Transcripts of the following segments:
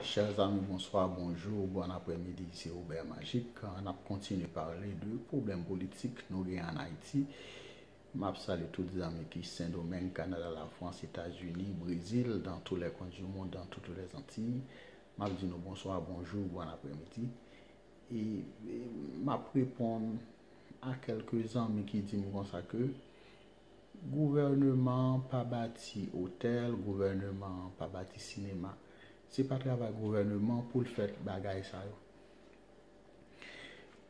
Chers amis bonsoir, bonjour, bon après midi ici Robert Magic an ap kontinye parle de problem politik nou gen an Haiti m ap salye tout zanmi ki Sendomeng, Canada, la France, Etats Unis, Brésil, dans tous les coins du monde, dans toutes les Antilles m ap di nou bonsoir, bonjour, bon après midi e m ap reponn a kelke zanmi ki di m konsa ke Gouvèneman an pa bati otèl, gouvèneman an pa bati sinema. Se pa travay gouvèneman pou l fè bagay sa yo.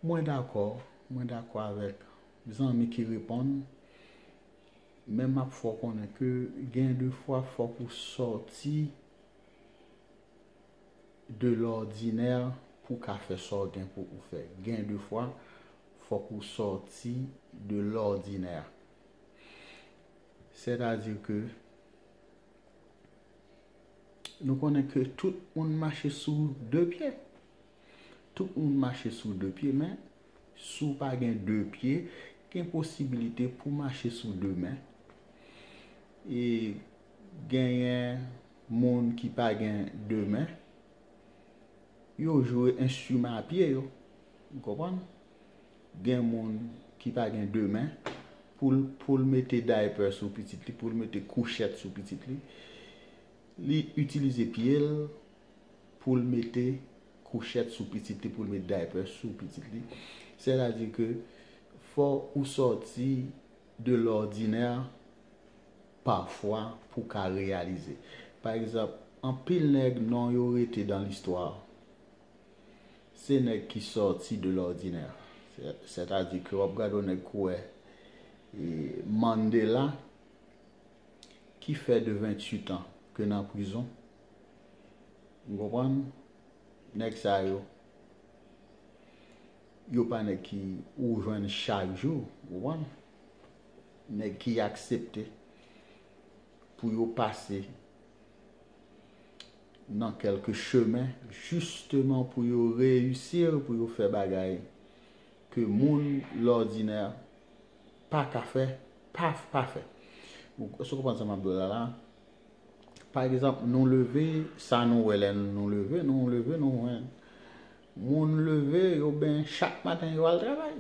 Mwen dakò, mwen dakò avèk zanmi ki reponn, men m ap fè w konnen ke gen de fwa fòk ou sòti de lòdinè pou w ka fè sa w gen pou ou fè. Gen de fwa, fòk ou sòti de lòdinè. Sètadi ke nou konnen ke tout moun mache sou de pye. Tout moun mache sou de pye men, si w pa gen de pye, gen posibilite pou w mache sou de men. E genyen moun ki pa gen de men, yo jwe enstriman a pye yo. Ou konprann? Gen moun ki pa gen de men, pou l mete daypè sou pitit li, pou l mete kouchèt sou pitit li, li itilize pye l pou l mete kouchèt sou pitit li, pou l mete daypè sou pitit li. Sètadi ke fò ou sòti de lòdinè pafwa pou ka reyalize. Pa egzanp, anpil nèg non yo rete dan listwa se nèg ki sòti de lòdinè. Sètadi ke w ap gade yon nèg kouwè Mandela ki fè de 28 an ke nan prizon. Ou konprann? Nèg sa yo Yo pa nèg ki ou jwenn chak jou, ou konprann. Nèg ki aksepte pou yo pase nan kèlke chemen jisteman pou yo reyisir, pou yo fè bagay ke moun lòdinè pa ka fè, pa pa fè. Èske ou konprann sa m ap di w la la a? Pa egzanp, nou leve, sa nou wè lè nou leve, nou leve nou jwenn Moun leve, yo benyen chak maten, yo al travay.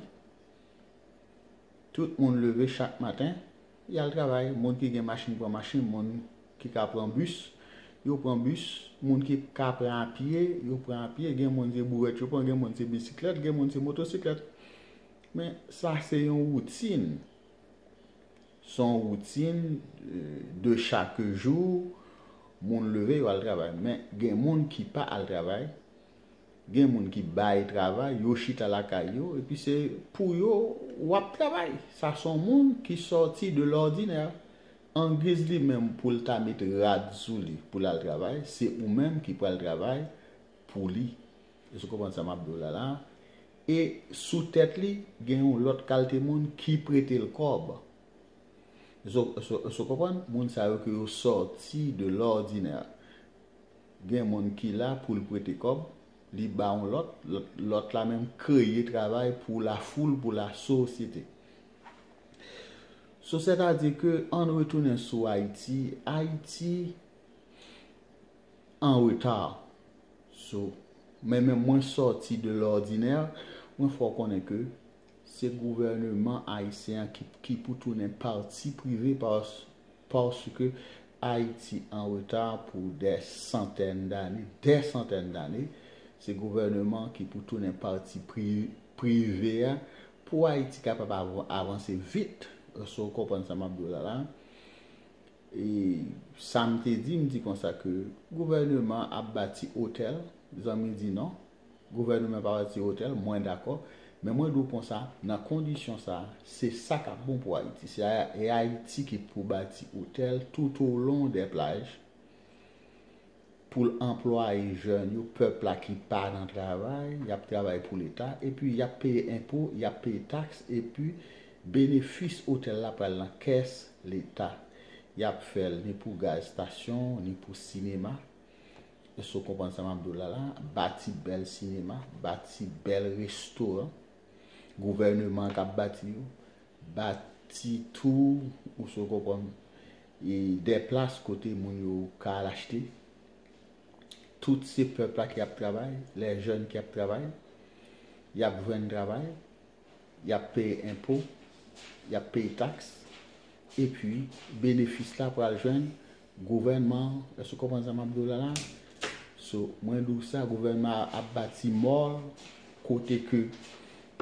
Tout moun leve chak maten, y al travay. Moun ki gen machin pran machin, moun ki ka pran bis, yo pran bis. Moun ki ka pran apye, yo pran apye. Gen moun se bourèt yo pran, gen moun se bisiklèt, gen moun se motosiklèt. Men sa se yon woutin. Se yon woutin de chak jou, moun leve yo al travay. Men gen moun ki pa al travay. Gen moun ki bay travay, yo chita lakay yo, epi se pou yo w ap travay. Sa s on moun ki sòti de lòdinè. Angiz li menm pou l ta met rad sou li pou l al travay, se ou menm ki pral travay pou li. Èske w konprann sa m ap di w la la a? E sou tèt li, gen yon lòt kalte moun ki prete l kòb. Èske w konprann? Moun sa yo ke yo sòti de lòdinè. Gen moun ki la poul prete kòb, li ba yon lòt, lòt la menm kreye travay pou la foul, pou la sosyete. So sètadi ke ann retounen sou Ayiti, Ayiti an reta. So men menm mwen sòti de lòdinè, mwen fè w konnen ke Se gouvèneman ayisyen an ki pou tounen pati prive paske Ayiti an reta pou dè santèn dane, dè santèn dane, se gouvèneman an ki pou tounen pati prive a pou Ayiti kapab avanse vit, èske ou konprann sa m ap di w la la? E sa m te di, m di konsa ke gouvèneman an ap bati otèl, zanmi di non. Gouvèneman pa bati otèl, mwen dakò, men mwen di w konsa, nan kondisyon sa a, se sa k ap bon pou Ayiti. Se Ayiti ki pou bati otèl toutolon dè plaj pou l anplwaye jèn yo, pèp la ki pa nan travay, y ap travay pou Leta, epi y ap peye enpo, y ap peye taks, epi benefis otèl la pral nan kès Leta. Y ap fè l ni pou gaz stasyon, ni pou sinema, Èske w konprann sa m ap di w la la a? Bati bèl sinema, bati bèl restoran, gouvèneman an k ap bati yo, bati tou, èske w konprann, dè plas kote moun yo ka al achte. Tout se pèp la ki ap travay, lè jèn ki ap travay, y ap jwenn travay. Y ap peye enpo, y ap peye taks, epi benefis la pral jwenn gouvènman an. Èske w konprann sa m ap di w la la a? So, mwen di w sa, gouvènman an ap bati mòl kote ke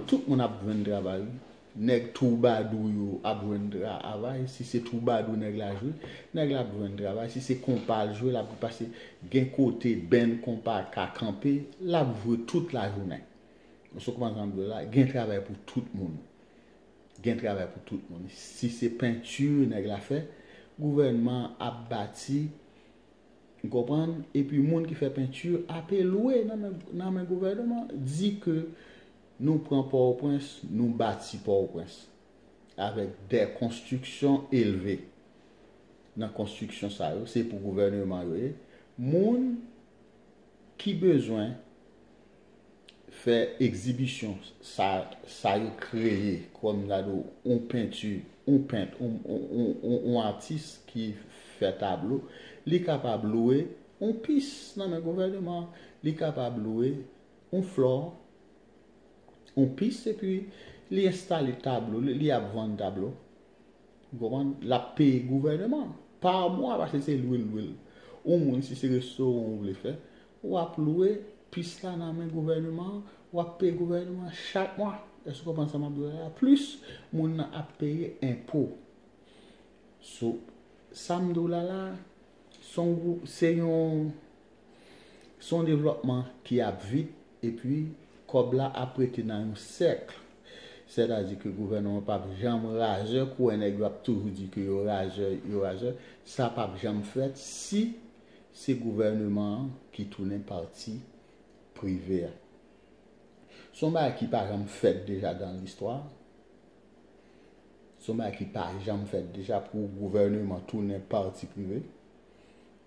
tout moun ap jwenn travay wi. Nèg twoubadou yo ap jwenn travay, si se twoubadou nèg la jwe, nèg la ap jwenn travay, si se konpa l jwe, l ap jwenn, paske gen kote band konpa ka kanpe, l ap jwe tout lajounen. Sou kman zanm dwe la gen travay pou tout moun gen travay pou tout moun si se peinture nèg la fè gouvènman ap bati ou konprann epi moun ki fè peinture ape lwe nan men gouvènman di ke nou pran pòtoprens nou bati pòtoprens avèk dè konstriksyon elve nan konstriksyon sa yo se pou gouvènman yo ye moun ki bezwen fè egzibisyon sa sa yo kreye kòm gade yon penti yon pent yon atis ki fè tablo li kapab lwe yon pis nan men gouvèneman an li kapab lwe yon flò yon pis epi li enstale tablo li li ap vann tablo ou konprann l ap peye gouvèneman an pa mwa paske se lwe l lwe l yon moun si se restoran ou vle fè Wap lwe pis la nan men gouvèneman an, wap peye gouvèneman an chak mwa. Èske w konprann sa map di w la la? Plis moun nan ap peye enpo. So, sam di w la la, son gwo, se yon, son devlòpman ki ap vit epi kòb la ap rete nan yon sèkl. Sètadi ke gouvèneman an pap janm razè, kouwè nèg yo ap toujou di ke yo razè, yo razè. Sa pap janm fèt si se gouvèneman an ki tounen pati prive a. Se yon bagay ki pa janm fèt deja dan listwa. Se yon bagay ki pa janm fèt deja pou gouvèneman tounen pati prive.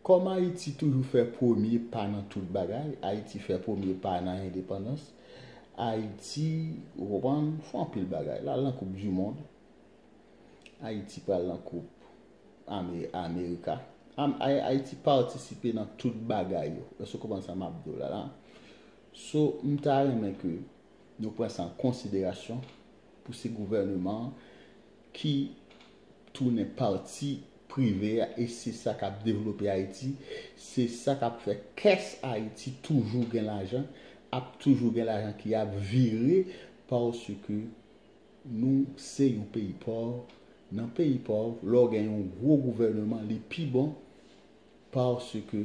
Kòm Ayiti toujou fè premye pa nan tout bagay, Ayiti fè premye pa nan endepandans, Ayiti, ou konprann, fè anpil bagay. L al nan koup dimond. Ayiti pral nan koup amerika ayiti patisipe nan tout bagay yo èske ou konprann sa map diw la la so m ta renmen ke nou pran sa an konsiderasyon pou se gouvèneman ki tounen pati prive a e se sa kap devlope ayiti se sa kap fè kès ayiti toujou gen lajan ap toujou gen lajan ki ap vire paske Nou se yon peyi pòv, nan peyi pòv lè w gen yon gwo gouvèneman li pi bon paske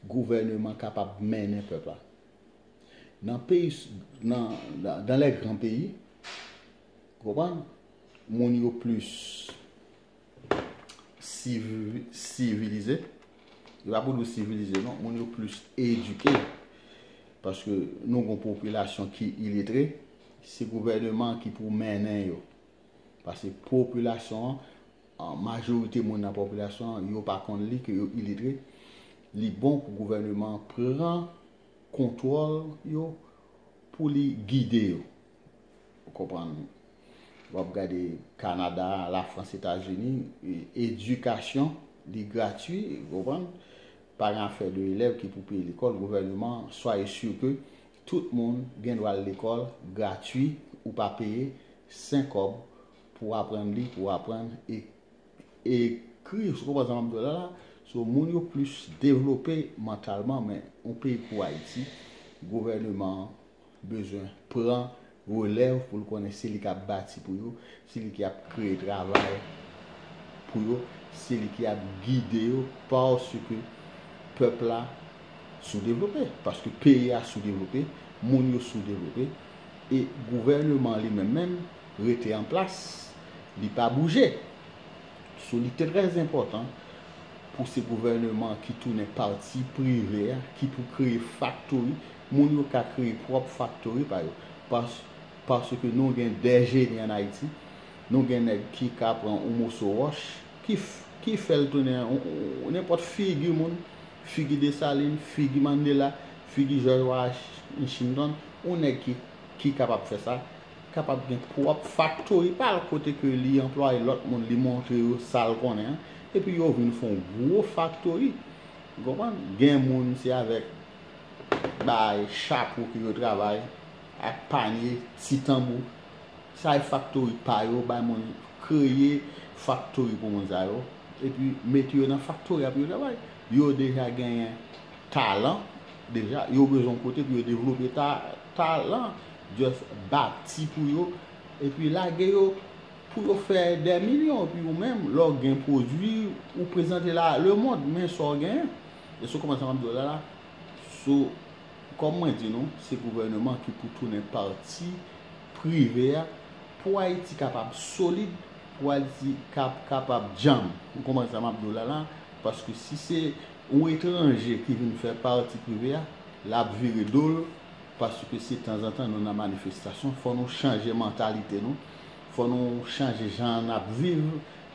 gouvèneman kapab mennen pèp la. Nan peyi, nan, dans les grands pays, ou konprann, moun yo plis. sivilize. Yo pa pou nou sivilize non. Moun yo plis edike. Paske nou kon popilasyon ki iletre. Se gouvèneman ki pou mennen yo. Paske popilasyon, majorite moun nan popilasyon, yo pa kon li ke yo iletre. Li bon pou gouvèneman pran kontwòl yo pou li gide yo. Ou konprann? W ap gade Kanada, Lafrans, Etazini, edikasyon li gratui, ou konprann? Pa gen afè de elèv ki pou peye lekòl, gouvèneman, swaye sur ke tout moun gen dwa al lekòl gratui, ou pa peye sen kòb pou w aprann li, pou w aprann ekri, ou konprann sa m ap di w la la? So moun yo plis devlope mantalman men yon peyi kou Ayiti, gouvèneman an. bezwen pran relèv pou l konnen se li k ap bati pou yo, se li ki ap kreye travay pou yo, se li ki ap gide yo paske pèp la soudevlope, paske peyi a soudevlope, moun yo soudevlope e gouvèneman li menm menm rete an plas, li pa bouje. Sou li trè enpòtan pou se gouvèneman ki tounen pati prive a ki pou kreye faktori Moun yo ka kreye pwòp faktori pa yo. Paske nou gen de jeni an Ayiti, nou gen nèg ki ka pran yon moso wòch, ki fè l tounen nenpòt figi moun, figi Desalin, figi Mandela, figi Jòj Wachintonn, yon nèg ki kapab fè sa, kapab gen pwòp faktori pa l kote ke li anplwaye lòt moun, li montre yo sa l konnen an, epi yo vin fè yon gwo faktori. Ou konprann? Gen moun se avèk. bay chapo pou yo travay ak panye, ti tanbou. Sa e faktori pa yo, bay moun kreye faktori pou moun sa yo. E pi mete yo nan faktori a pou yo travay. Yo deja genyen talan, deja yo bezwen yon kote pou yo devlope talan. Just bati pou yo, e pi lage yo pou yo fè dè milyon. E pi ou menm, lè w gen pwodwi, ou prezante la a lemond, men sa w genyen. Èske w konprann sa m ap di w la la? So, kòm mwen di nou, se gouvèneman ki pou tounen pati prive a pou Ayiti kapab solid, pou Ayiti kapab djanm. Ou konprann sa m ap di w la la? Paske si se yon etranje ki vin fè pati prive a, l ap vire do l paske se tanzantan nou nan manifestasyon. Fò nou chanje mantalite nou. Fò nou chanje jan n ap viv.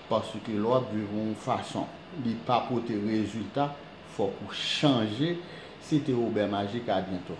Paske lè w ap viv yon fason li pa pote rezilta fòk ou chanje se te obè maji ka byen tou.